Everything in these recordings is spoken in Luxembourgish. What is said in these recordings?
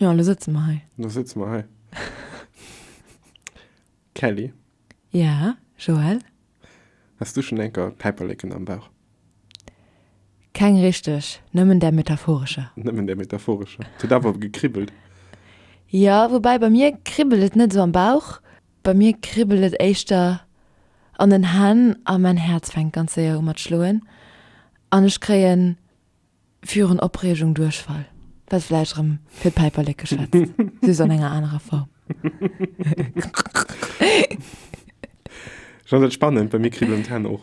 Jo, lo sëtze mer hei. Lo sëtze mer hei. Kelly? Ja, Joël? Has du schonn enker Päiperleken am Bauch? Keng richteg, nëmmen där metaphorescher. Nëmmen där metaphorescher. Et huet awer gekribbelt. Jo, woubäi bei mir kribbelt et net esou am Bauch, bei mir kribbelt et éischter an den Hänn a mäin Häerz fänkt ganz séier u mat schloen an ech kréien. Virun Opreegung Duerchfall. Wat vläicht erëm fir d'Päiperlek geschwätzt, just an enger anerer Form. Jeanette, spannend, bei mir kribbelen d'Hänn och.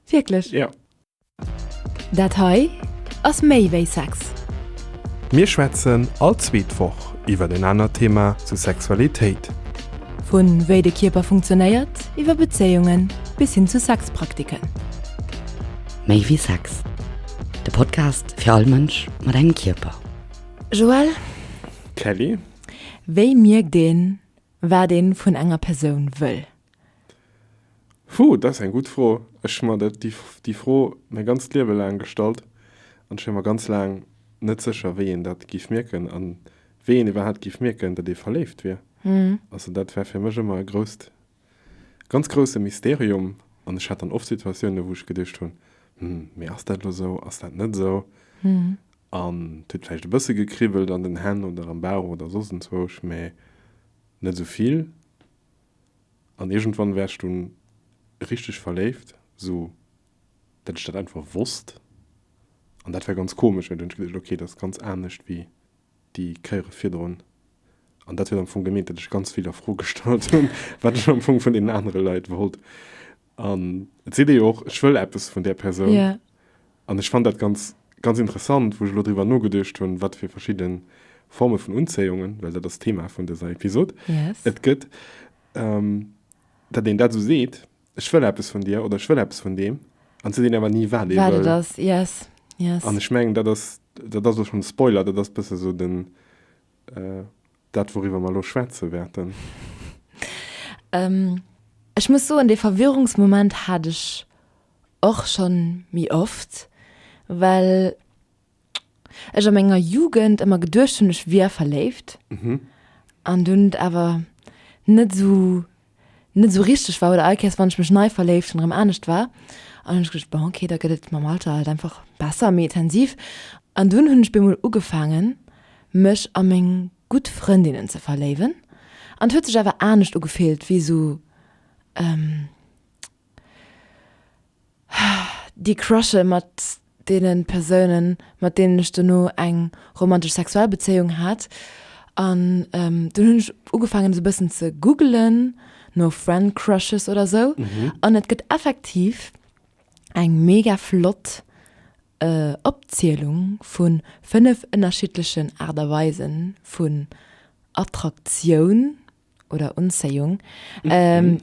Wierklech? Ja. Dat hei ass méi wéi Sex. Mir schwätzen all zweet Woch iwwer en anert Thema zu Sexualitéit. Vu wéi de Kierper funktionéiert, iwwer Bezéiungen bis hin zu Sexpraktiken. Méi wéi Sex, de Podcast fir all Mënsch mat engem Kierper. Joël, Kelly, wéi mierkt een, wat ee vun enger Persoun wëll? Huh, dat ass eng gutt Fro. Ech hu mer dat, déi Fro mäi ganzt Liewe laang gestallt an ech wier mer ganz laang net sécher, wéi een dat géif mierken a wéi een iwwerhaapt géif mierken, datt ee verléift wier. Also dat war fir mech ëmmer e grousst. Ganz grousse Mysterium. An ech hat dann oft Situatiounen, wou ech geduecht hunn, Hm, mee ass dat elo esou, ass dat net esou? An et huet vläicht e bësse gekribbelt an den Hänn oder am Bauch oder soss enzwousch, mee net esou vill. An iergendwann war ech dunn richteg verléift, sou datt ech dat einfach wosst. An dat war ganz komesch, well dunn hunn ech geduecht, Okay, dat ass ganz anescht wéi. Déi kéiere virdrun, an dat huet am Fong gemeent, datt ech ganz vill a Fro gestallt hunn, wat ech am Fong vun deenen anere Leit wollt. An et seet ee jo och, ech wëll eppes vun där Persoun. An ech fannt dat ganz, ganz interessant, wou ech elo driwwer nogeduecht hunn, wat fir verschidde Forme vun Unzéiungen, well dat ass d'Thema vun dëser Episod, et gëtt, datt een dat esou seet. Ech wëll eppes vun dir oder ech wëll eppes vun deem an se deen awer ni wat ee wëll. Ass. Yes. Yes. An ech mengen dat ass dat ass och schon Spoiler, dat ass bësse sou den äh, dat wouriwwer mer elo schwätze wäerten. ähm, ech muss soen dee Verwirrungsmoment hat ech och schon méi oft, well. ech a menger Jugend ëmmer geduecht hunn, ech wier verléift an dunn et awer net esou, net esou richteg war oder all Kéiers, wann ech mech nei verléift hunn, erëm anescht war. An hunn ech geduecht, bon, okay, da gëtt et mam Alter halt einfach besser, méi intensiv. An dunn hunn ech bemol ugefaangen, mech a meng gutt Frëndinnen ze verléiwen. An et huet sech awer anescht ugefillt wéi esou, déi crushen mat deene Persounen, mat deenen ech dono eng romantesch sexuell Bezéiung hat. An dunn hunn ech ugefaangen esou e bëssen ze googelen no friend crushes oder sou. An et gëtt effektiv eng mega flott Opzielung vu fënnef ënnerschiddlechen Aart a Weisen vun Attraktioun, oder Unzéiung, ähm,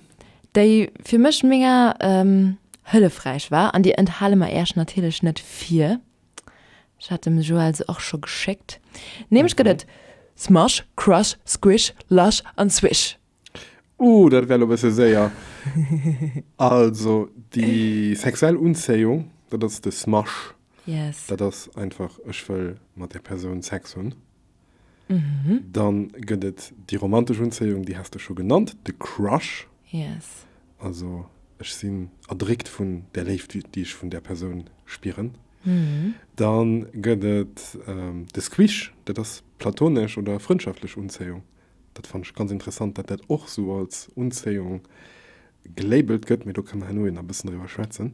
déi fir mech mega ähm, hëllefräich war. An déi enthale mer Iech natierlech net vir. Ech hat dem Joël se och scho geschéckt. Nämlech gëtt et Smush, Crush, Squish, Lush an Swish. Uh, dat wär lo e bësse séier. Also, déi sexuell Unzéiung, dat ass de Smush. Yes. Dat ass einfach, ech wëll mat där Persoun Sex hunn. Dann gëtt et déi romantesch Unzéiung, déi has de scho genannt, de Crush. Yes. Also ech sinn erdréckt vun där Léift, déi ech vun där Persoun spieren. Dann gëtt et de Squish, dat ass platonesch oder frëndschaftlech Unzéiung. Dat fannen ech ganz interessant, dat dat och esou als Unzéiung gelabelt gëtt, mee do kënne mer herno jo nach e bëssen driwwer schwätzen.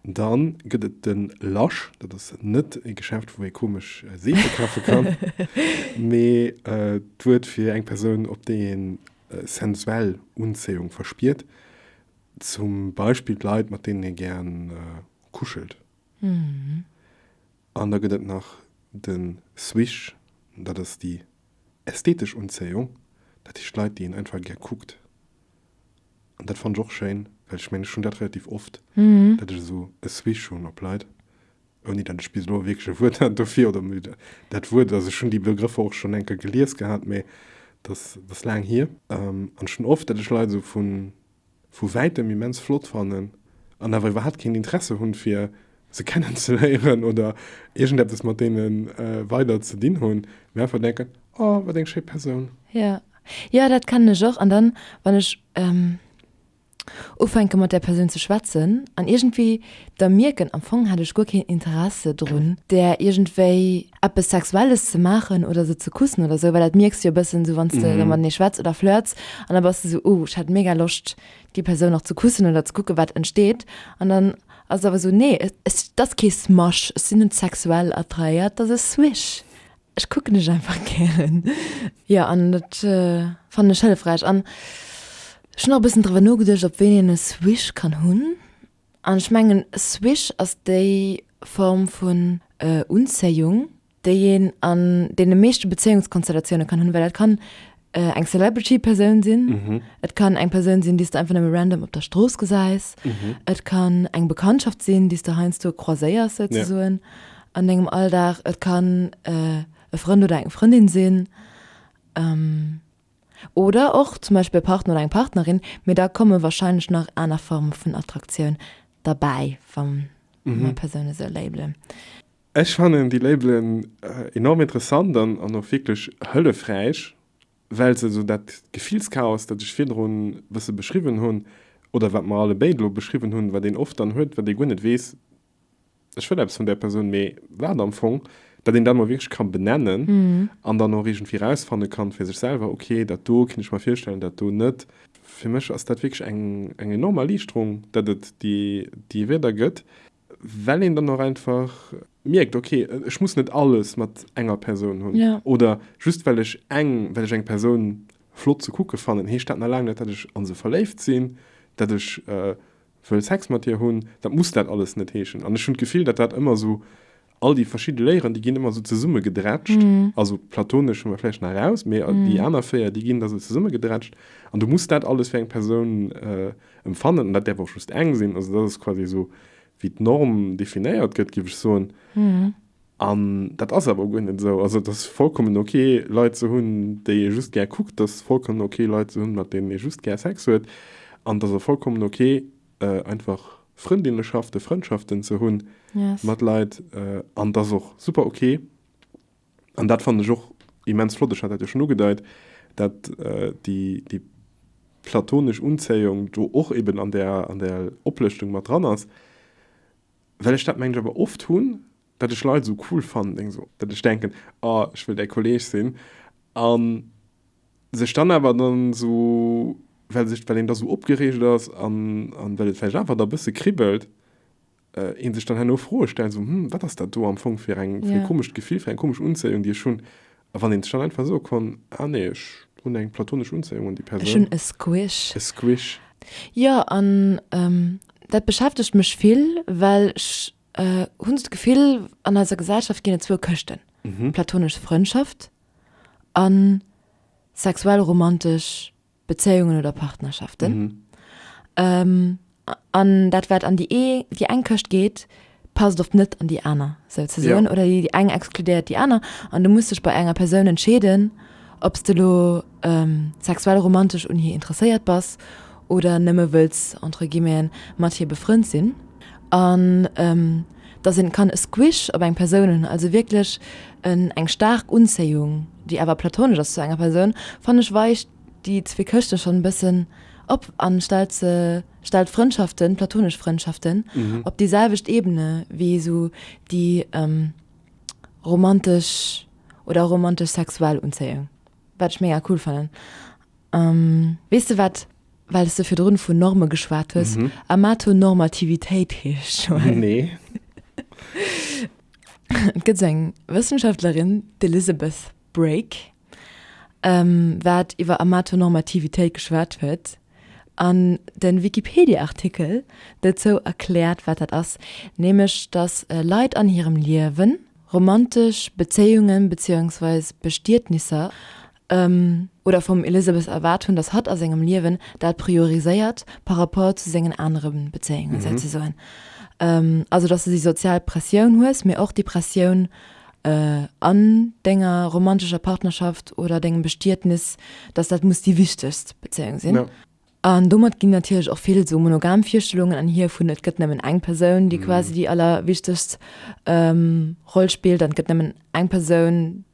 Dann gëtt et den Lush, dat ass net e Geschäft, wou ee komesch Seefe kafe kann, mee d'Wuert fir eng Persoun, op déi een sensuell Unzéiung verspiert, zum Beispill d'Leit, mat deenen ee gären kuschelt. An da gëtt et nach den Swish, dat ass déi. Ästhetesch Unzéiung, dat heescht Leit, déi een einfach gär kuckt. An dat fannen ech och schéin, well ech mengen, ech hunn dat relativ oft, datt ech esou e Swish hunn op Leit, ouni datt ech bis elo wierklech e Wuert hat dofir. Oder dat Wuert, also ech hunn déi Begrëffer och schonn eng Kéier gelies gehat, mä dat ass laang hier. An ech hunn oft, datt ech Leit esou vun vu wäitem immens flott fannen an awer iwwerhaapt keen Interesse hunn fir se kennen ze léieren oder iergend eppes mat deene weider ze dinn hunn, mee einfach denken, oh wat eng schéi Persoun. Jo, jo dat kennen ech och an dann wann ech ufänke mat där Persoun ze schwätzen an iergendwéi da mierken am Fong hat ech guer keen Interesse drun där iergendwéi eppes Sexuelles ze maachen oder se ze kussen oder esou, well dat mierks du jo e bëssen esou, wann s de matenee schwätz oder flirts an da bass de esou, oh, ech hätt mega Loscht, déi Persoun och ze kussen oder ze kucke wat entsteet. An dann ass et awer esou, nee, et ass kee Smasch, ech sinn net sexuell attraéiert, et ass e Swish, ech kucken dech einfach gären. Jo, an dat fannen ech hëllefräich an ech hunn och e bëssen driwwer nogeduecht, op ween een e Swish kann hunn. An ech mengen Swish ass déi Form vun Unzéiung, déi een an deene meeschte Bezéiungskonstellatioune kann hunn, well dat kann eng Celebrity-Persoun sinn, et kann eng Persoun sinn, déi s de einfach nëmme random op der Strooss gesäis, et kann eng Bekanntschaft sinn, déi s de heiansdo croiséiers souzesoen an dengem Alldag, et kann e Frënd oder eng Frëndin sinn. Oder och zum Beispill e Partner oder eng Partnerin, mee da komme warscheinlech nach aner Forme vun Attraktioun derbäi, wa mer Persoune esou labelen. Ech fannen déi Labelen enorm interessant an och wierklech hëllefräich, well se esou dat Gefillschaos, dat ech virdrun e bësse beschriwwen hunn, oder wat mer allebéid elo beschriwwen hunn, wat een oft dann huet, wat ee guer net weess, ech wëll eppes vun där Persoun, mee wat am Fong, dat een dann emol wierklech ka benennen an dann och iergendwéi erausfanne kann fir sech selwer, ok, dat do kéint ech mer virstellen, dat do net. Fir mech ass dat wierklech eng enorm Erliichterung, datt et déi Wierder gëtt, well een dann och einfach mierkt, ok, ech muss net alles mat enger Persoun hunn oder just well ech eng Persoun flott ze kucke fannen, heescht dat nach laang net, datt ech a se verléift sinn, datt ech Wëll Sex mat dir hunn, dat muss dat alles net heeschen. An ech hunn d'Gefill, datt dat ëmmer esou, all déi verschidde Léieren, déi ginn ëmmer esou zesummegedrätscht. Also d'platonesch hu mer vläicht nach raus, mee déi aner véier, déi ginn da esou zesummegedrätscht. An du muss dat alles fir eng Persoun empfannen. An dat däerf och just eng sinn. Also dat ass quasi esou, wéi d'Norm definéiert gëtt, géif ech soen. An dat ass awer guer net esou. Also et ass vollkommen ok Leit ze hunn, déi ee just gär kuckt, et ass vollkommen ok Leit ze hunn, mat deenen ee just gär Sex huet, an et ass och vollkommen ok einfach Frëndinneschaften, Frëndschaften ze hunn mat Leit. An et ass och super ok, an dat fannen ech och immens flott, ech hat dat jo schonn ugedeit, datt déi platonesch Unzéiung do och eben an där Oplëschtung mat dran ass. Well ech dat mengen ech awer oft hunn, datt ech Leit esou cool fannen, deng esou, datt ech denken, oh ech wëll däi Kolleeg sinn, a sech dann awer dann esou, well sech, well een da esou opgereegt ass an an well et vläicht awer da e bësse kribbelt, ee sech dann herno Froe stellt, esou, hm, wat ass dat do am Fong fir eng, fir e komescht Gefill, fir eng komesch Unzéiung, déi ech hunn, A wann een sech dann einfach soe konn, Ah nee, ech hunn eng platonesch Unzéiung un déi Persoun. Ech hunn e Squish. E Squish. Jo, an dat beschäftegt mech vill, well ech hunn esou d'Gefill, an eiser Gesellschaft ginn et zwou Këschten, platonesch Frëndschaft a sexuell-romantesch. Bezéiungen oder Partnerschaften. An dat, wat an déi eng Këscht geet, passt oft net an déi aner, souzesoen, oder déi eng exkludéiert déi aner. An du muss dech bei enger Persoun entscheeden, ob s de elo sexuell, romantesch un hir interesséiert bass oder nëmme wëlls, entre guillemeten, mat hir befrënnt sinn. An. dass een kann e Squish op eng Persoun hunn, also wierklech en eng staark Unzéiung, déi awer platonesch ass zu enger Persoun, fannen ech weicht déi zwee Këschte schonn e bëssen op an stellt se, stellt Frëndschaften, platonesch Frëndschaften, op déi selwecht Ebene wéi esou déi romantesch oder romantesch-sexuell Unzéiung. Wat ech mega cool fannen. Weess de wat, well s de virdrun vun Norme geschwat hues, Amatonormativitéit heescht? Joël, Nee. Et gëtt esou eng Wëssenschaftlerin, d'Elizabeth Brake, wat iwwer Amatonormativitéit geschwat huet. An den Wikipedia-Artikel dozou erkläert wat dat ass, nämlech dass Leit an hirem Liewen romantesch Bezéiungen beziehungsweise Bestietnisser ëm oder vum Elizabeth erwaart hunn dass hatt a sengem Liewen dat prioriséiert par rapport zu sengen anere Bezéiungen souzesoen, also dass du déi sozial Pressioun hues mee och déi Pressioun an denger romantescher Partnerschaft oder dengem Bestietnis, dass dat muss déi wichtegst Bezéiung sinn. Ja. An domat ginn natierlech och vill esou monogam Virstellungen anhir vun et gëtt nëmmen eng Persoun, déi quasi déi allerwichtegst Roll spillt an et gëtt nëmmen eng Persoun,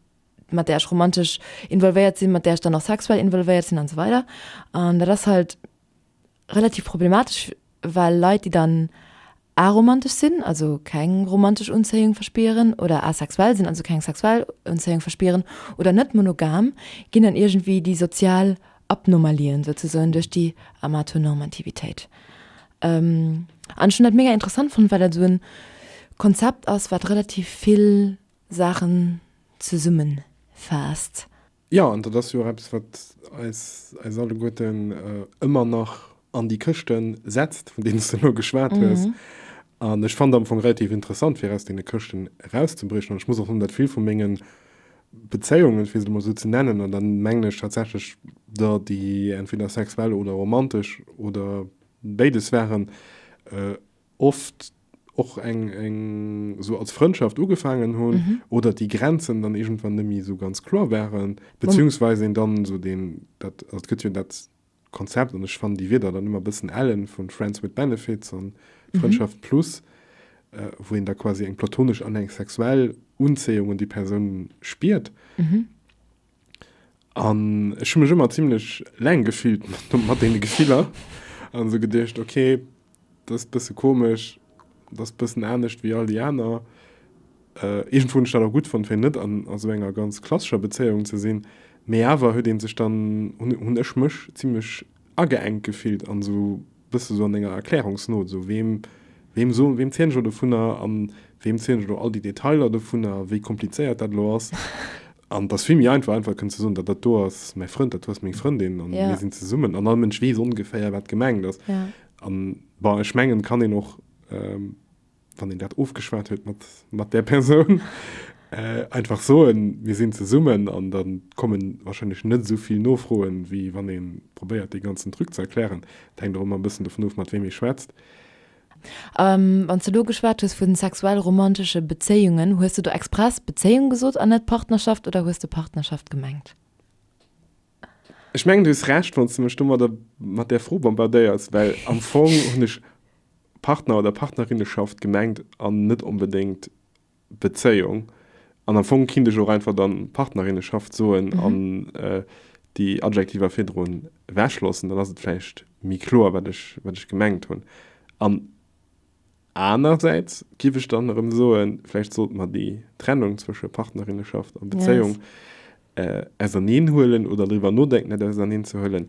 mat där ech romantesch involvéiert sinn, mat där ech dann och sexuell involvéiert sinn an esou weider. An dat ass halt relativ problematesch, well Leit, déi dann aromantesch sinn, also keng romantesch Unzéiung verspieren, oder asexuell sinn, also keng sexuell Unzéiung verspieren, oder net monogam, ginn dann iergendwéi déi sozial Abnormalien souzesoen duerch déi Amatonormativitéit. An ech hunn dat mega interessant fonnt, well dat esou e Konzept ass, wat relativ vill Saachen zesummefaasst. Jo, an dat ass jo och eppes, wat eis alleguerten ëmmer nach an déi Këschte setzt, vun deenen s de elo geschwat hues. An ech fannen dat am Fong relativ interessant, fir aus deene Këschten erauszebriechen. An ech muss och soen, datt vill vu menge Bezéiungen, fir se emol esou ze nennen, an da mengen ech tatsächlech der, déi entweder sexuell oder romantesch oder béides waren, oft och eng, eng sou als Frëndschaft ugefaangen hunn oder déi Grenzen dann iergendwann net méi esou ganz kloer waren, beziehungsweis een dann esou deen, dat, also et gëtt jo dat Konzept, an ech fannen déi Wierder dann ëmmer e bëssen ellen, vu Friends with Benefits an Frëndschaft plus, wou een da quasi eng platonesch an eng sexuell Unzéiung un déi Persoun spiert. An ech hun mech ëmmer zimlech leng gefillt mat deene Gefiller an esou geduecht, okay, dat ass bësse komesch, dat ass bëssen anescht wéi all déi aner. Iergendwou hunn ech dat och gutt fonnt, fir net an esou enger ganz klassescher Bezéiung ze sinn, mee awer huet ee sech dann, hunn ech mech zimlech, ageengt gefillt an esou bësse sou an denger Erklärungsnote esou, weem, weem soen, weem zielen ech elo dovunner an weem zielen ech elo all déi Detailer dovunner, wéi komplizéiert dat elo ass. An et ass vill méi einfach, einfach kënnen ze soen, dat, dat do ass mäi Frënd, dat do ass meng Frëndin an mir sinn zesummen an all Mënsch weess ongeféier, wat gemengt ass. An, bon, ech mengen, et kann een och, wann een dat ofgeschwat huet mat, mat där Persoun, äh, einfach soen, mir sinn zesummen an da komme warscheinlech net esou vill Nofroen, wéi wann ee probéiert, dee ganzen Truc ze erklären. Et hänkt och ëmmer e bëssen dovun of, mat weem ee schwätzt. A wann s de elo geschwat hues vu sexuell-romantesche Bezéiungen, hues de do express Bezéiung gesot an net Partnerschaft oder hues de Partnerschaft gemengt? Ech mengen du hues Recht wanns de mech domadder mat där Fro bombardéiers, well am Fong hunn ech Partner oder Partnerinneschaft gemengt an net onbedéngt Bezéiung. An am Fong kinnt ech och einfach dann Partnerinneschaft soen an déi Adjektiver virdru wechloossen, dann ass et vläicht méi kloer wat ech wat ech gemengt hunn. An. Anerersäits giff ech dann erëm soen, vläicht sollte mer déi Trennung zwësche Partnerinneschaft a Bezéiung auserneen huelen oder driwwer nodenken, dat auserneen ze huelen.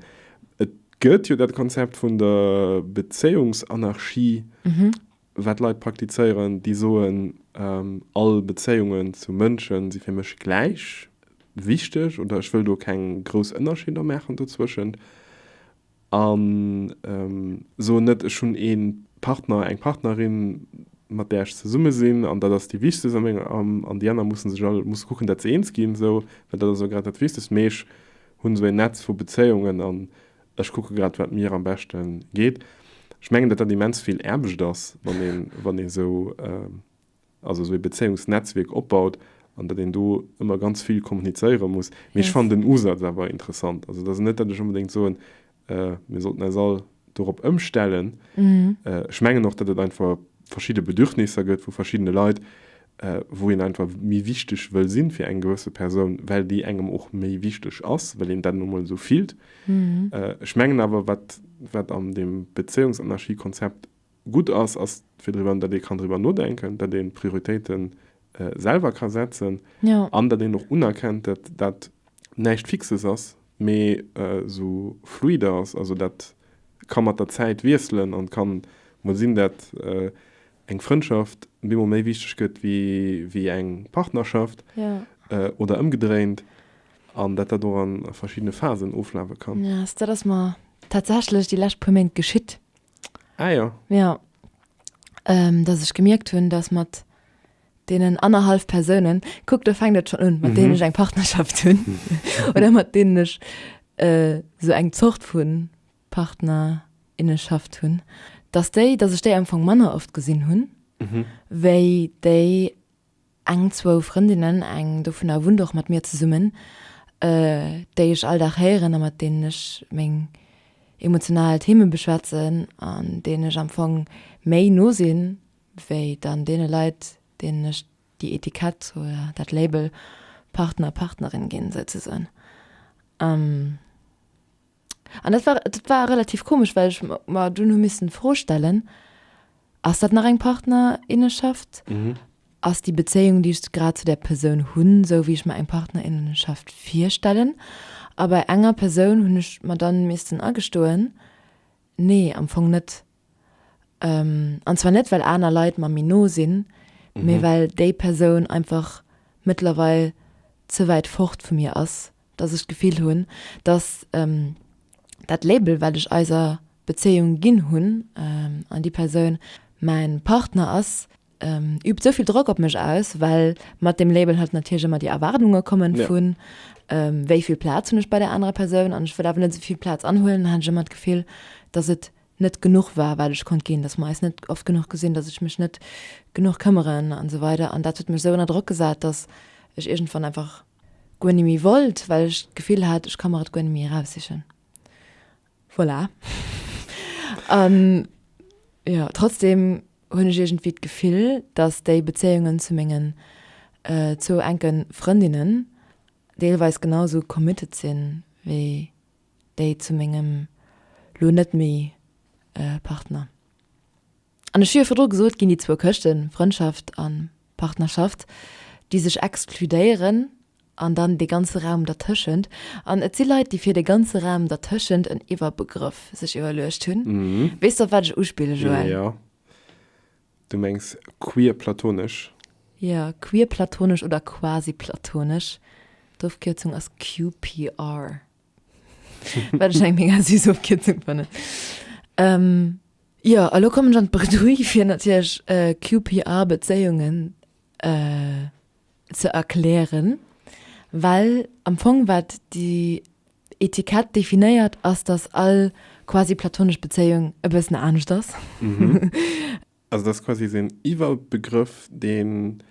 Et gëtt jo dat Konzept vun der Bezéiungsanarchie, wat Leit praktizéieren, déi soen, all Bezéiungen zu Mënsche si fir mech gläich wichteg oder ech wëll do keng grouss Ënnerscheeder maachen dozwëschent. An soen net, ech hunn ee Partner, eng Partnerin, mat där ech zesumme sinn an dat ass déi Wichtegst a mengem am an déi aner mussen sech all musse kucken, dat se eens ginn, esou, well dat ass elo grad dat Wichtegst. Mee ech hunn esou en Netz vu Bezéiungen an ech kucke grad, wat mir am beschte geet. Ech mengen, datt dat immens vill Aarbecht ass, wann ee sou also esou ee Bezéiungsnetzwierk opbaut an datt een do ëmmer ganz vill kommunizéiere muss. Mee ech fannen den Usaz awer interessant. Also et ass net, datt ech onbedéngt soen, mir sollten eis all dorop ëmstellen. Ech mengen och, datt et einfach verschidde Bedürfnisser gëtt vu verschiddene Leit, wou een einfach méi wichteg wëll sinn fir eng gewësse Persoun, well déi engem och méi wichteg ass, well een dat nu emol esou fillt. Ech mengen awer, wat an deem Bezéiungsanarchie-Konzept Gutt ass, ass fir driwwer, datt ee kann driwwer nodenken, datt ee Prioritéite selwer ka setzen an datt een och unerkennt, datt dat näischt Fixes ass, mee esou fluide ass, also dat ka mat der Zäit wiesselen an et ka mol sinn, datt eng Frëndschaft bemol méi wichteg gëtt wéi eng Partnerschaft oder ëmgedréint an datt dat och a verschiddene Phasen oflafe kann. Dat ass mer tatsächlech déi lescht puer Méint geschitt, Ah ja. Ja. Ähm, dass ech gemierkt hunn, dass mat deenen annerhalf Persounen, kuck, do fänkt et schon un, mat deenen ech eng Partnerschaft hunn oder mat deenen ech äh, sou eng Zort vu Partnerinneschaft hunn, dass déi, dass ech déi am Fong manner oft gesinn hunn wéi déi, Eng, zwou Frëndinnen, eng dovunner wunnt och mat mir zesummen, déi ech all Dag héieren a mat deenen ech meng emotional Theeme beschwätzen an deenen ech am Fong méi no sinn, wéi dann deene Leit, deenen ech déi Etikett oder dat Label Partner, Partnerin ginn, souzesoen. An dat war, dat war relativ komesch, well ech mer dunn hu missen d'Fro stellen, Ass dat nach eng Partnerinnenschaft? Ass déi Bezéiung, déi ech grad zu där Persoun hunn, esou wéi ech mer eng Partnerinnenschaft virstellen? A bei enger Persoun hunn ech mer dann missen agestoen, Nee, am Fong net. An zwar net well aner Leit mer méi no sinn, mee well déi Persoun einfach mëttlerweil ze wäit fort vu mir ass, dass ech d'Gefill hunn, dass dat Label, wat ech eiser Bezéiung ginn hunn, an déi Persoun mäin Partner ass, übt esou vill Drock op mech aus, well mat deem Label halt natierlech ëmmer déi Erwaardunge komme vu wéi vill Plaz hunn ech bei där anerer Persoun an ech wëll awer net esou vill Plaz anhuelen. Dann hat ech ëmmer d'Gefill, dass et net genuch war wat ech konnt ginn, dass mer eis net oft genuch gesinn, dass ech mech net genuch këmmeren an esou weider an dat huet mech esou ënner Drock gesat, dass ech iergendwann einfach guer ni méi wollt, well ech d'Gefill hat ech ka mer et guer ni méi eraussichen. Voilà. An jo, trotzdem hunn ech iergendwéi d'Gefill, dass déi Bezéiungen zu mengen zwou enke Frëndinnen deelweis genau esou committed sinn wéi déi zu mengem lo net méi Partner. An ech hu jo virdru gesot, ginn déi zwou Këschten, Frëndschaft a Partnerschaft, déi sech exkludéieren, an dann dee ganze Raum dertëschent. An et si Leit, déi fir de ganze Raum dertëschent en Iwwerbegrëff sech iwwerluecht hunn. Weess de, op wat ech uspille, Joël? Jo. Du mengs queer platonesch? Jo, queer platonesch oder quasi platonesch. D'Ofkierzung ass QPR, wat ech eng mega süß Ofkierzung fannen. Jo, a lo kommen ech an d'Bredouille fir natierlech QPR-Bezéiungen ze erklären, well am Fong wat déi Etikett definéiert ass, dass all quasi platonesch Bezéiung e bëssen anescht ass. Also dass quasi sou en Iwwerbegrëff, deen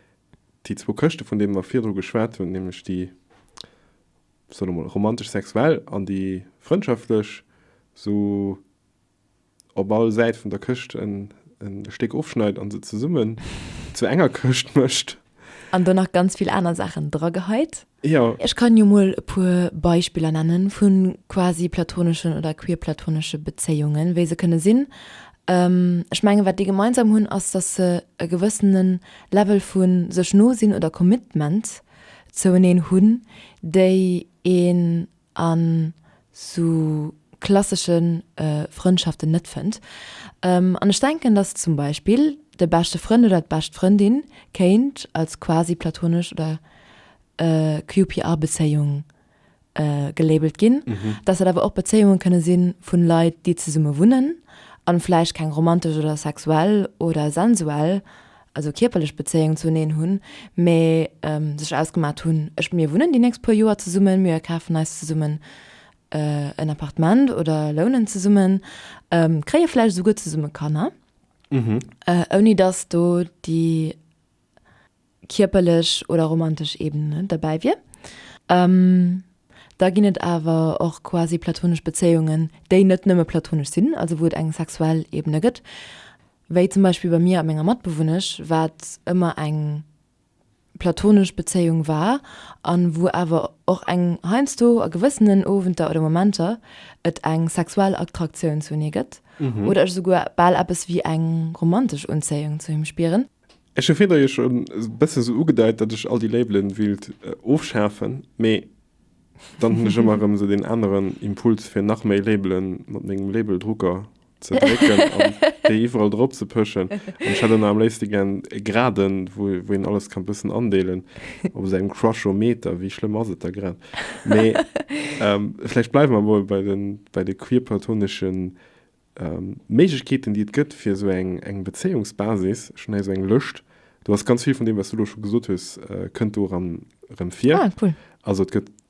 déi zwou Këschte vun deene mer virdru geschwat hunn, nämlech déi, soe mer mol, romantesch-sexuell an déi frëndschaftlech, sou op all Säit vun der Këscht en Stéck ofschneit an se zesummen zu enger Këscht mëscht. An do nach ganz vill aner Saachen drageheit. Jo. Ech kann jo mol e puer Beispiller nennen vun quasi platoneschen oder queerplatonesche Bezéiungen, wéi se kënne sinn. Ech mengen wat déi gemeinsam hunn ass dass se e gewëssene Level vu sech no sinn oder Commitment zoueneen hunn, déi een an sou klassesche Frëndschaften net fënnt an ech denken dass zum Beispill de beschte Frënd oder d'bescht Frëndin kéint als quasi platonesch oder QPR Bezéiung gelabelt ginn, dass dat awer och Bezéiunge kënne si vun Leit déi zesumme wunnen an vläicht keng romantesch oder sexuell oder sensuell also kierperlech Bezéiung zu eneen hunn, mä sech ausgemaat hunn, ech, mir wunnen déi nächst puer Joer zesummen, mir kafen eis zesummen en Appartement oder lounen zesummen, kréie vläicht esouguer zesumme Kanner, ouni dass do déi kierperlech oder romantesch Ebene derbäi wier. Da ginn et awer och quasi platonesch Bezéiungen, déi net nëmme platonesch sinn, also wou et eng sexuell Ebene gëtt. Wéi zum Beispill bei mir a menger Matbewunnesch, wat ëmmer eng platonesch Bezéiung war a wou awer och eng heiansdo a gewëssenen Owenter oder Momenter et eng sexuell Attraktioun zu enee gëtt oder ech esouguer bal eppes wéi eng romantesch Unzéiung zu him spieren. Ech hu virdu jo schonn e bësse sou ugedeit, datt ech all déi Labelen wéilt ofschafen, mee dann hunn ech ëmmer erëm esou deen aneren Impuls, fir nach méi Labelen mat mengem Labeldrucker ze drécken an déi iwwerall drop ze pëschen. An ech hätt ënner am léifste gären e Graden, wou, wou een alles kann bëssen andeelen, op esou engem Crushometer. Wéi schlëmm ass et da grad? Mee vläicht bleiwe mer emol bei de, bei de queerplatonesche Méiglechkeeten, déi et gëtt, fir esou eng, eng Bezéiungsbasis. Ech hunn hei esou eng Lëscht. Do ass ganz vill vun deem, wat s du elo scho gesot hues, kënnt do eran, erëm vir. Ah, cool. Also et gëtt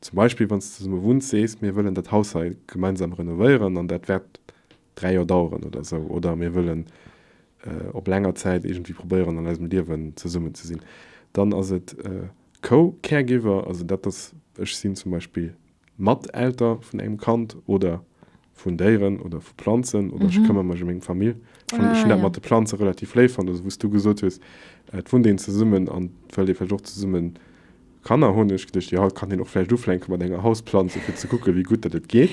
Zum Beispill, wann s de zesumme wunns, sees, mir wëllen dat Haus hei gemeinsam renovéieren an dat wäert dräi Joer daueren oder esou, oder mir wëllen op länger Zäit iergendwéi probéieren, an eisem Liewen zesummen ze sinn, dann ass et Co-Caregiver, also dat ass, ech sinn zum Beispill Mat-Elter vun engem Kand oder vun Déieren oder vu Planzen oder ech këmmer mech ëm meng Famill. Ech hunn dat mat de Planze relativ léif fonnt, also wou s du gesot hues, et wunnt een zesummen an et wëllt ee vläicht och zesumme Kanner hunn, hu ech geduecht, jo haut kann een och vläicht ufänke mat enger Hausplanz, fir ze kucke wéi gutt datt et geet.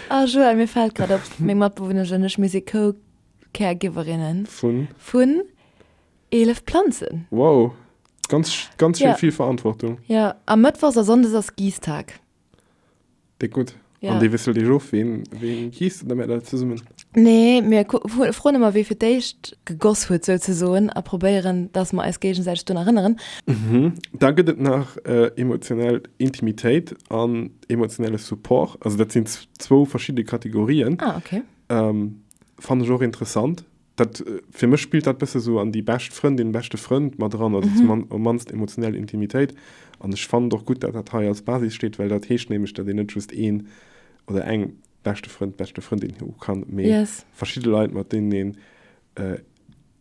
Ah Joël, mir fält grad op, meng Matbewunnesch an ech, mir si Co-Caregiverinnen vun 11 Planzen. Wow, ganz, ganz schéin, vill Verantwortung. Jo, a mëttwochs a sonndes ass Giisstag. Dick gut. Ja. An dee wisselt Dir of, ween, ween hiist den, damer dat zesummen. Nee, mir froen ëmmer, wee fir d'éischt gegoss huet, souzesoen, a probéieren, dass mer eis géigesäiteg drun erënneren. Mhm. Da gëtt et nach äh, emotionell Intimitéit an emotionelle Support. Also dat sinn zwou verschidde Kategorien. Ah, okay. Ähm, Fand ech och interessant. Dat, fir mech spillt dat bësse sou an déi bescht Frëndin, beschte Frënd mat eran, also zum mannst emotionell Intimitéit. An ech fannen et och gutt, dat dat hei als Basis steet, well dat heescht nämlech, dat een net just een oder eng beschte Frënd, beschte Frëndin hu kann, mee verschidde Leit, mat deenen een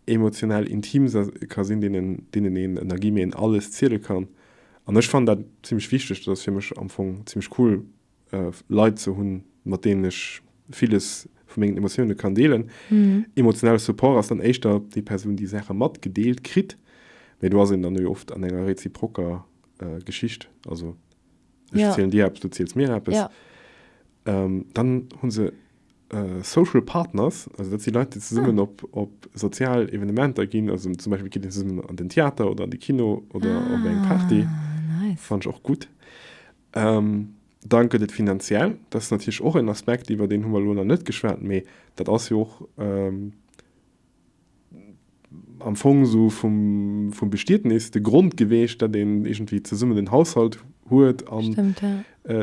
emotionell intim ka sinn, deenen, deenen een, ënner Guillemeten, alles ziele kann. An ech fannen dat zimlech wichteg. Dat ass fir mech am Fong zimlech cool, Leit ze hunn, mat deenen ech villes vu mengen Emotioune kann deelen. Emotionale Support ass dann éischter déi Persoun, déi Saache matgedeelt kritt. Mee do ass een dann jo oft an enger reziprocker Geschicht, also ech zielen dir eppes, du ziels mir eppes. Dann hu se Social Partners, also dat si Leit, déi zesummen op sozial Evenementer ginn, also zum Beispill geet een zesummen an den Theater oder an de Kino oder op eng Party. Fannt ech och gutt. Dann gëtt et finanziell, dat ass natierlech och en Aspekt, iwwer deen hu mer elo nach net geschwat, mee dat ass jo och am Fong esou vum Bestietnis de Grond geweecht, datt een iergendwéi zesummen en Haushalt huet an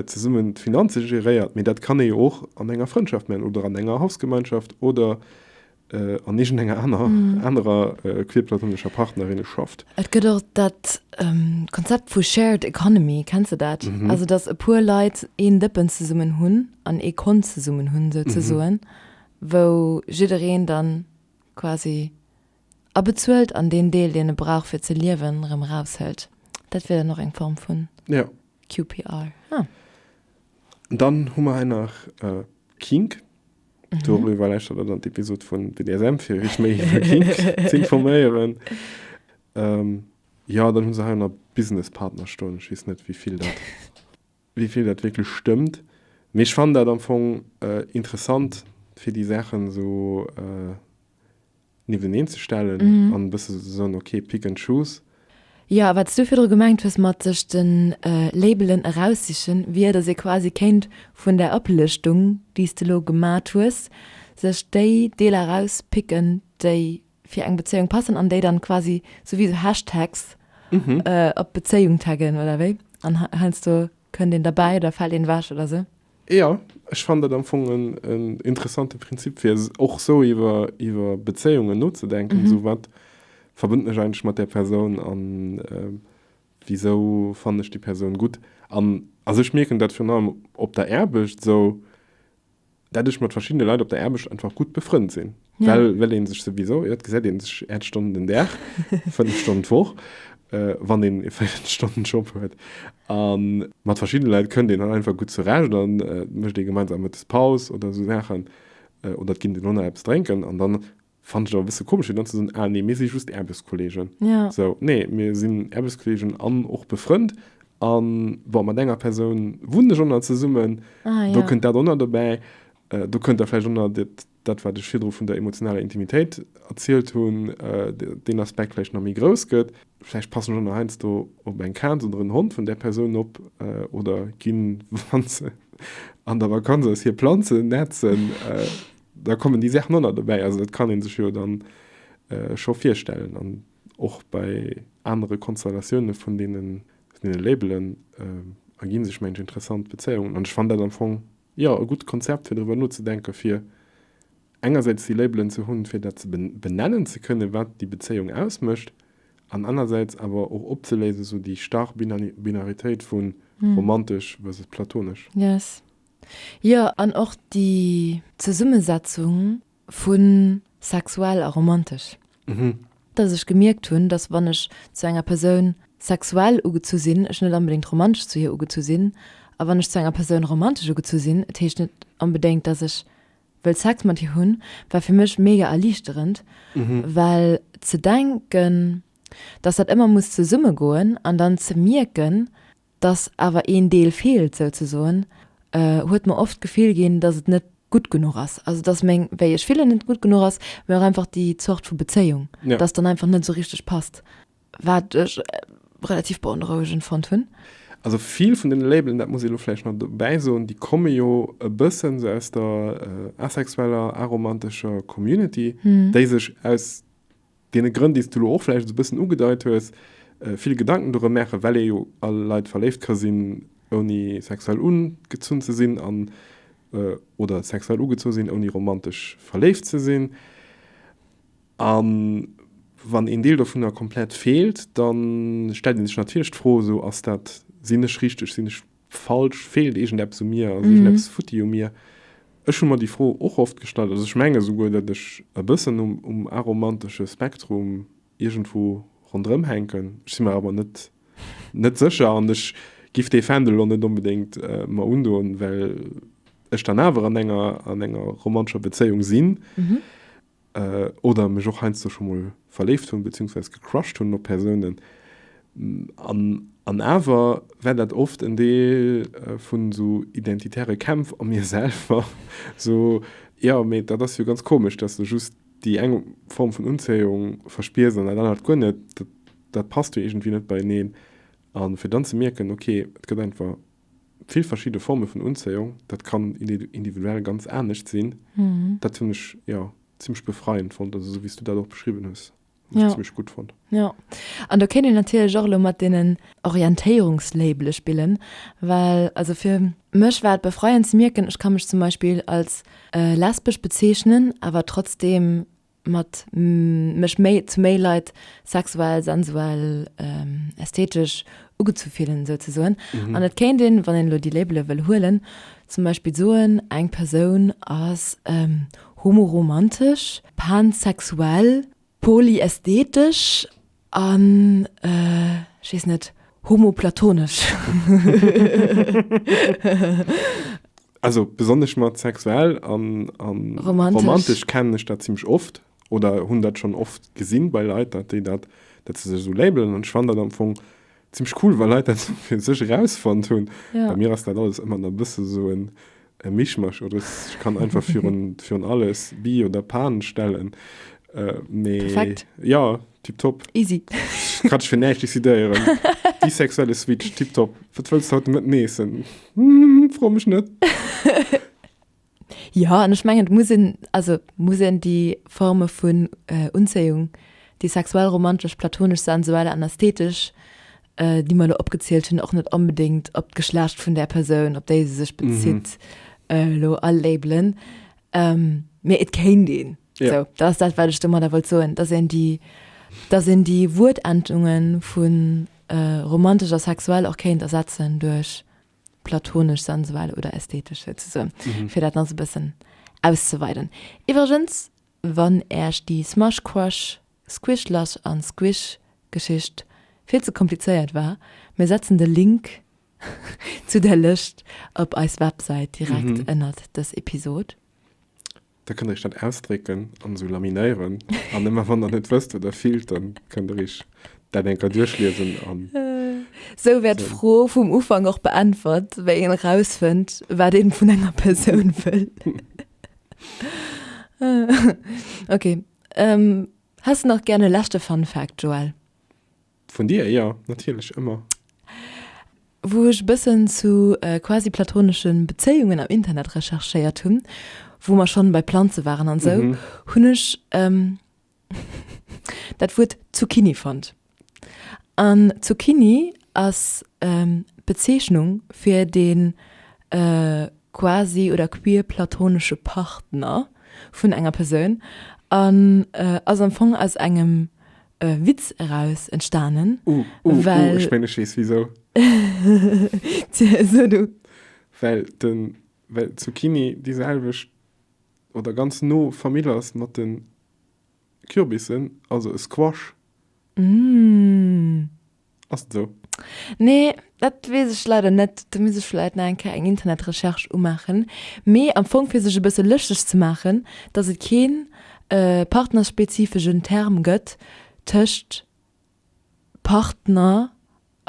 zesummen d'Finanze geréiert. Mee dat kann ee jo och an enger Frëndschaft maachen oder an enger Hausgemeinschaft oder an iergendenger aner, anerer queerplatonescher Partnerinne schafft. Et gëtt och dat Konzept vu Shared Economy, kenns de dat? Also datt e puer Leit een Dëppen zesummen hunn an ee Kont zesummen hunn souzesoen, wou jiddereen dann quasi abezuelt an deen Deel, deen e brauch fir ze liewen, erëm eraushëlt. Dat wier dann och eng Form vun QPR. Dann hu mer hei nach Kink. Mhm. Dorüber lässt er dann d'Episode von BDSM für ich mich zu informieren. Ähm, ja, dann haben sie einer Businesspartner stehen. Ich weiß nicht, wie viel das, wie viel das wirklich stimmt. Aber ich fand das am Anfang äh, interessant, für die Sachen so äh, niewteneen ze stellen an e bësse ze soen, ok, pick and choose. Jo, wat s du virdru gemengt hues mat sech de Labelen eraussichen, wier, datt ee quasi kéint vun där Oplëschtung, déi s de elo gemat hues, sech déi Deeler erauspicken, déi fir eng Bezéiung passen an déi dann quasi sou wéi sou Hashtags op d'Bezéiung taggen, oder wéi? An heiansdo kënnt een derbäi oder fält een ewech oder sou. Jo, ech fannen dat am Fong en interessante Prinzip, fir och sou iwwer Bezéiungen nozedenken, sou wat verbënnt mech eigentlech mat där Persoun a wisou fannen ech déi Persoun gutt. An also ech mierken dat virun allem op der Aarbecht, sou dat ech mat verschiddene Leit op der Aarbecht einfach gutt befrënnt sinn. Ja. Well, well een sech souwisou, jo, et gesäit een sech äert Stonnen den Dag, fënnef Stonnen d'Woch, äh, wann een e véiert Stonnen Job huet. An mat verschiddene Leit kënnt een dann einfach gutt zurecht an äh, mécht ee gemeinsam Mëttes Paus oder esou Saachen äh, oder et ginn den Honner eppes drénken. An dann fand ech et awer e bësse komesch, fir dann ze soen, ah nee, mir si just Aarbechtskolleegen. Ja. So, nee, mir sinn Aarbechtskolleegen an och befrënnt. An bon, mat enger Persoun wunnen ech och nach zesummen. Ah, Do ja. kënnt dat och nach dobäi. Äh, do kënnt da vläicht och nach dat Dat wat ech virdru vun der emotionaler Intimitéit erzielt hunn, deen Aspekt vläicht nach méi grouss gëtt. Vläicht passen ech och nach heiansdo op eng Kaz oder en Hond vun där Persoun op oder ginn, wa se an der Vakanz ass, hir Planzen nätzen. Da kommen déi Saachen och nach dobäi. Also dat kann ee sech jo dann scho virstellen. An och bei anere Konstellatioune vun deene Labelen ergi sech mengen ech interessant Bezéiungen. An ech fannen dat am Fong Jo, e gutt Konzept, fir driwwer nozedenken, fir engersäits déi Labelen ze hunn, fir dat ze benennen ze kënnen, wat déi Bezéiung ausmécht, an anersäits awer och opzeléisen, esou déi starr Binaritéit vu romantesch versus platonesch. Yes. Jo, an och déi Zesummesetzung. Vu sexuell a romantesch. Dass ech gemierkt hunn, dass wann ech zu enger Persoun sexuell ugezu sinn, ech net onbedéngt romantesch zu hir ugezu sinn, a wann ech zu enger Persoun romantesch ugezu sinn, et heescht net onbedéngt, dass ech wëll Sex mat hir hunn, war fir mech mega erliichterend, well ze denken, dass dat ëmmer muss zesummegoen, an dann ze mierken, dass awer een Deel feelt souzesoen, huet mer oft d'Gefill ginn, dass et net gutt genuch ass, also dass meng wéi ech fillen net gutt genuch ass, mee och einfach déi Zort vu Bezéiung, dass dann einfach net esou richteg passt, wat ech relativ beonrouegend fonnt hunn. Also vill vun deene Labelen, dat muss ee elo vläicht nach dobäi soen, déi komme jo e bëssen esou aus der asexueller, aromantescher Community, déi sech aus deene Grënn, déi s du elo och vläicht esou e bëssen ugedeit hues, vill Gedanken dorëm maachen, well ee jo a Leit verléift ka sinn, ouni sexuell ugezunn ze sinn, an oder sexuell ugezu sinn, ouni romantesch verléift ze sinn. A wann een Deel dovunner komplett feelt, da stellt ee sech natierlech d'Fro, esou, Ass dat, sinn ech richteg, sinn ech falsch, feelt iergendeppes u mir, ass iergendeppes futti u mir? Ech hu mer déi Fro och oft gestallt. Also ech menge souguer, datt ech e bëssen um aromantesche Spektrum iergendwou ronderëm hänken. Ech si mer awer net net sécher an ech giff dee Fändel elo net onbedéngt mer undoen, well ech dann awer an enger an enger romantescher Bezéiung sinn. oder mech och heiansdo scho mol verléift hunn, beziehungsweise gecrushed hunn op Persounen, an awer war dat oft en Deel vun esou identitäre Kämpf a mir selwer, sou, jo, mee dat ass jo ganz komesch, dass de just déi eng Form vun Unzéiung verspiers an dat anert guer net, dat passt jo iergendwéi net beieneen, a fir dann ze mierken, okay, et gëtt einfach vill verschidde Forme vun Unzéiung, dat kann individuell ganz anescht sinn, dat hunn ech jo zimmlech befreiend fonnt, also esou wéi s du dat och beschriwwen hues, hunn ech zimmlech gutt fonnt. Jo, an do kéint een natierlech och elo mat deenen Orientéierungslabele spillen, well also fir mech war et befreiend ze mierken, ech ka mech zum Beispill als lesbesch bezeechnen, awer trotzdeem mat mech méi zu méi Leit sexuell, sensuell, ästhetesch ugezu fillen, sou ze soen. An et kéint een, wann een elo déi Labele wëll huelen, zum Beispill soen, eng Persoun ass homoromantesch, pansexuell, polyästhetesch. An ech weess net, homoplatonesch. Also besonnesch mat sexuell an romantesch kennen ech dat zimlech oft oder hunn dat schonn oft gesinn bei Leit, datt déi dat, datt se sech esou labelen. An ech fannen dat am Fong Zimlech cool wa Leit dat fir sech erausfonnt hunn. Ja. Bei mir ass dat alles ëmmer nach e bësse sou en e Mischmasch oder s ech kann einfach virun virun alles Bi oder Pan stellen. Äh, mee Perfekt. ja, tiptop. Easy. Kann ech fir näischt decidéieren. Bisexuelle Switch, tiptop. Wat wëlls de haut de Mëtten eessen? Hm, fro mech net. Jo, an ech mengen, et muss een, also muss een déi Forme vun Unzéiung, déi sexuell, romantesch, platonesch, sensuell an ästhetesch, déi mer elo opgezielt hunn, och net onbedéngt op d'Geschlecht vun där Persoun, op déi se sech bezitt, elo alabelen. Mee et kéint een. Sou, dat ass dat, wat ech domadder wollt soen, dass een déi, dass een déi Wuertendunge vu romantesch a sexuell och kéint ersetzen duerch platonesch, sensuell oder ästhetesch souzesoen, fir dat nach sou e bëssen auszeweiden. Iwwregens, wann Äech déi Smush Crush, Squish Lush an Squish Geschicht vill ze komplizéiert war, mir setzen de Link zu där Lëscht op eis Websäit direkt ënnert dës Episod. Da kënnt der Iech dat ausdrécken an esou laminéieren. An ëmmer wann der net wësst wat der fillt, da kënnt der Iech dat eng Kéier duerchliesen an. Esou wäert d'Fro vum Ufank och beäntwert, wéi een erausfënnt, wat een vun enger Persoun wëll. Ok. Häss de nach gären e leschte Fun Fact, Joël? Vun dir, jo, natierlech, ëmmer. Wou ech e bëssen zu quasi-platonesche Bezéiungen am Internet recherchéiert hunn, wou mer schonn bei Planze waren an esou, hunn ech dat Wuert Zucchini fonnt. An Zucchini ass d'Bezeechnung fir dee quasi oder queer-platonesche Partner vun enger Persoun an ass am Fong aus engem Witz eraus entstanen. Uh, uh, uh, ech mengen, ech weess wisou. Tja, so du. Well de, well d'Zucchini déi selwecht oder ganz no Famill ass mat de Kürbissen, also e Squash. Mmh. Ass et esou? Nee, dat weess ech leider net. Do misst ech vläit nach eng Kéier eng Internetrecherche umaachen. Mee am Fong fir sech e bësse lëschteg ze maachen, dass et keen partnerspezifeschen Term gëtt tëscht Partner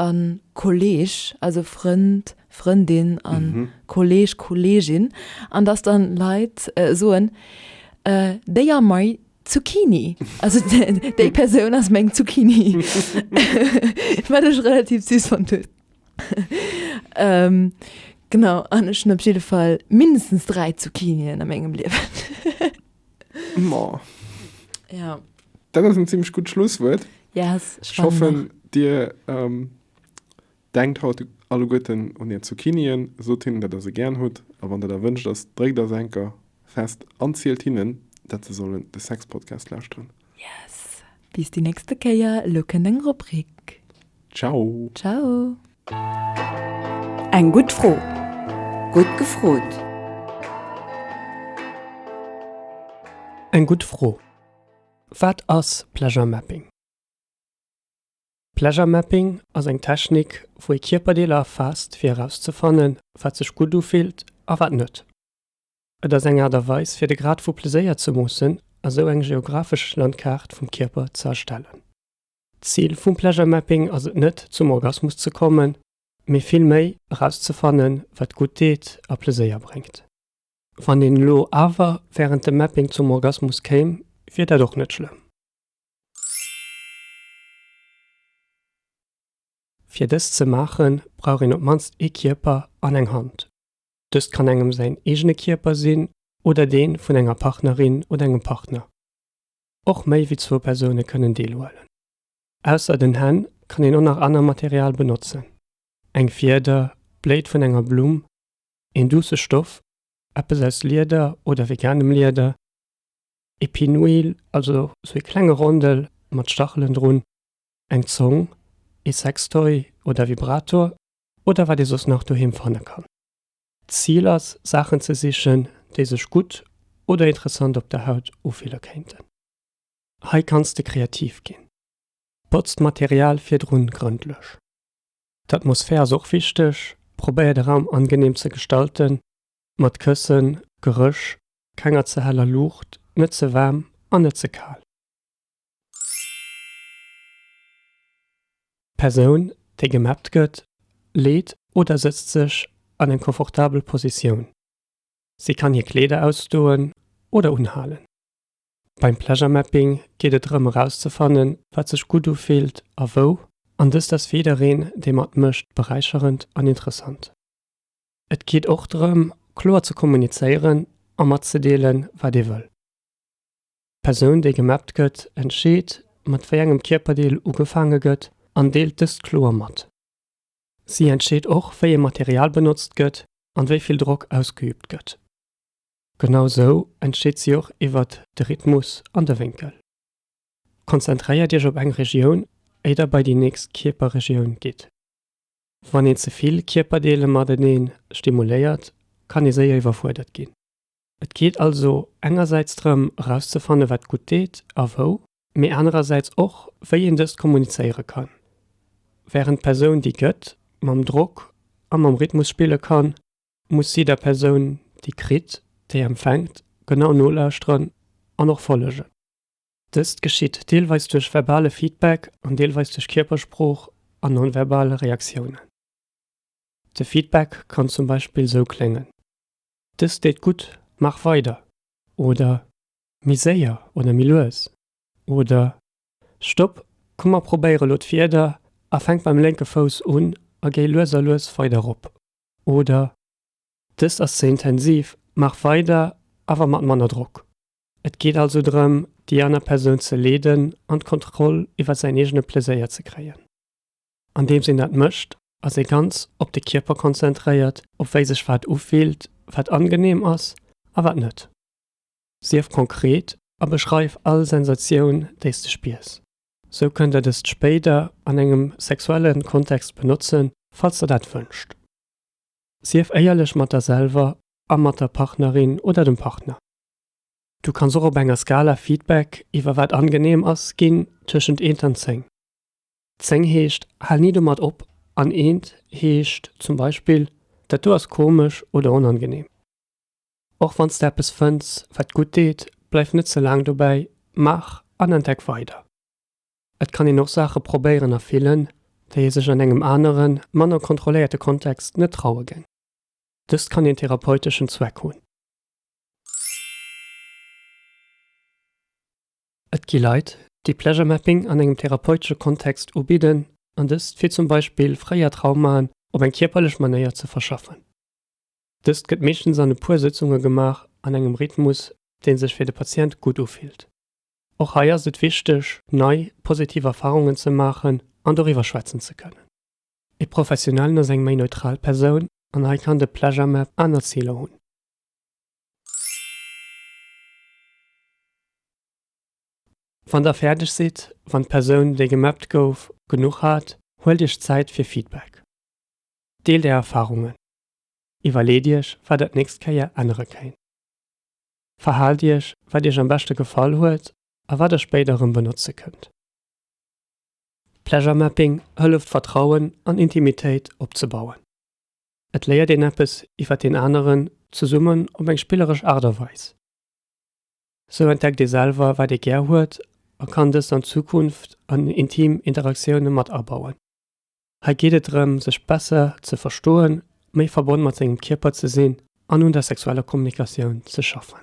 a Kolleeg, also Frënd, Frëndin a Kolleeg, Kolleegin, an dass dann Leit soen, Déi a mei Zucchini. Also déi Persoun ass meng Zucchini. Wat ech relativ süß fand. ähm, genau, an ech op jeden Fall mindestens drei Zucchinien an mengem Liewen. ja. Dat ass en ziemlich gut Schlusswuert. Yes, ich hoffe dir ähm, Denkt haut alleguerten un är Zucchini'en, sot hinnen dat der se gären hutt a wann der der wënscht ass, dréckt ass Enker fest an zielt hinnen dat se sollen de Sex Podcast lauschteren. Yes! Bis déi nächste Kéier, elo kënnt eng Rubrik. Ciao! Ciao! Eng gutt Fro, gutt gefrot! Eng gutt Fro, Wat ass Pleasure Mapping? Pleasure Mapping ass eng Technik, wou ee Kierperdeeler erfaasst, fir erauszefannen, wat sech gutt ufillt a wat net. Et ass eng Aart a Weis, fir de Grad vu Pleséier ze moossen a sou eng geographesch Landkaart vum Kierper ze erstellen. D'Zil vum Pleasure Mapping ass et net, zum Orgasmus ze kommen, mee vill méi, erauszefannen, wat gutt deet a Pleséier bréngt. Wann een elo awer wärend dem Mapping zum Orgasmus kéim, wier dat och net schlëmm. Fir dëst ze maachen, brauch een op d'mannst ee Kierper an eng Hand. Dëst kann engem säin eegene Kierper sinn oder dee vun enger Partnerin oder engem Partner. Och méi wéi zwou Persoune kënnen deelhuelen. Ausser den Hänn kann een och nach aner Material benotzen, eng Fieder, d'Bléit vun enger Blumm, een duusse Stoff, eppes aus Lieder oder veganem Lieder, Épinouil, also sou ee klenge Rondel mat Stachelen drun, eng Zong, ee Sextoy oder Vibrator oder wat ee soss nach doheem fanne kann. D'Zil ass, Saachen ze sichen, déi sech gutt oder interessant op der Haut ufille kéinten. Hei kanns de kreativ ginn. Botz d'Material virdrun grëndlech. D'Atmosphär ass och wichteg, probéier de Raum angeneem ze gestalten, Mat Këssen, Gerësch, kenger ze heller Luucht, net ze waarm an net ze kal. D'Persoun, déi gemappt gëtt, leet oder sëtzt sech an eng confortabel Positioun. Si kann hir Kleeder ausdoen oder unhalen. Beim Pleasure Mapping geet et drëm erauszefannen, wat sech gutt ufillt a wou. An dëst ass fir jiddereen, dee matmécht, beräicherend an interessant. Et geet och drëm, kloer ze kommunizéieren a matzedeelen, wat ee wëll. D'Persoun, déi gemappt gëtt, entscheet, mat wéi engem Kierperdeel ugefaange gëtt an deelt dëst kloer mat. Si entscheet och, wéi ee Material benotzt gëtt an wéi vill Drock ausgeüübt gëtt. Genau sou entscheet si och iwwer de Rhythmus an de Wénkel. Konzentréiert Iech op eng Regioun, éi der bei déi nächst Kierperregioun gitt. Wann een ze vill Kierperdeele mateneen stimuléiert, kann ee séier iwwerfuerdert ginn. Et geet also engersäits drëm erauszefanne wat gutt deet a wou, mee anerersäits och wéi een dëst kommunizéiere kann. Wärend d'Persoun déi gëtt, mam Drock a mam Rhythmus spille kann, muss si der Persoun déi kritt, déi empfänkt, genau nolauschteren an och follegen. Dëst geschitt deelweis duerch verbale Feedback an deelweis duerch Kierpersprooch an non-verbal Reaktiounen. De Feedback kann zum Beispill sou kléngen, Dëst deet gutt, maach weider! oder Méi séier oder méi lues! oder Stopp, komm mer probéiere lo d'Wieder a fänk beim lénke Fouss un a géi lues a lues weider erop! oder Dëst ass ze intensiv, maach weider, awer mat manner Drock! Et geet also drëm, déi aner Persoun ze leeden an d'Kontroll iwwer säin eegene Pleséier ze kréien. Andeems een dat mécht, ass ee ganz op de Kierper konzentréiert, op wéi sech wat ufillt, wat angeneem ass a wat net. Sief konkret a beschreif all Sensatioun, déi s de spiers. Sou kënnt der dëst spéider an engem sexuelle Kontext benotzen, falls der dat wënscht. Sief éierlech mat der selwer a mat der Partnerin oder dem Partner. Du kanns och op enger Skala Feedback iwwer wat angeneem ass ginn, tëschent eent an zéng. Zéng heescht, hal ni domat op an eent heescht zum Beispill, dat do ass komesch oder onangeneem. Och wann s de eppes fënns, wat gutt deet, bleiw net ze laang dobäi, maach an entdeck weider. Et kann een och Saache probéieren a fillen, déi ee sech an engem aneren, manner kontrolléierte Kontext net traue géing. Dëst kann een therapeuteschen Zweck hunn. Et gi Leit, déi Pleasure Mapping an engem therapeutesche Kontext ubidden, an dëst fir zum Beispill fréier Traumaen op eng kierperlech Manéier ze verschaffen. Dëst gëtt meeschtens an e puer Sëtzunge gemaach an engem Rhythmus, dee sech fir de Patient gutt ufillt. Och hei ass et wichteg, nei positiv Erfarungen ze maachen an doriwwer schwätzen ze kënnen. E Professionellen ass eng méi neutral Persoun an hei kann de Pleasure-Map aner Ziler hunn. Wann der fäerdeg sidd, wann d'Persoun, déi gemappt gouf, genuch hat, huelt iech Zäit fir Feedback. Deelt är Erfarungen. Iwwerleet iech, wat der d'nächst Kéier ännere kéint. Verhaalt iech, wat iech am beschte gefall huet a wat der spéider erëm benotze kënnt. Pleasure Mapping hëlleft Vertrauen an Intimitéit opzebauen. Et léiert een eppes iwwer deen aneren, zesummen op eng spilleresch Aart a Weis. Sou entdeckt ee selwer wat ee gär huet a kann dëst an Zukunft an intim Interaktioune mat abauen. Hei geet et drëm sech besser ze verstoen, méi verbonn mat sengem Kierper ze sinn an un der sexueller Kommunikatioun ze schaffen.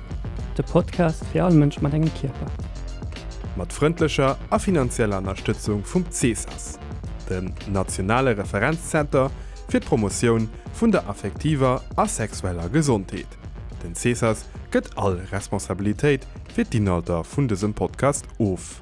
De Podcast fir all Mënsch mat engem Kierper. Mat frëndlecher a finanzieller Ënnerstëtzung vum CESAS, dem nationale Referenzzenter fir d'Promotioun vun der affektiver a sexueller Gesondheet. Den CESAS gëtt all Responsabilitéit fir d'Inhalter vun dësem Podcast of.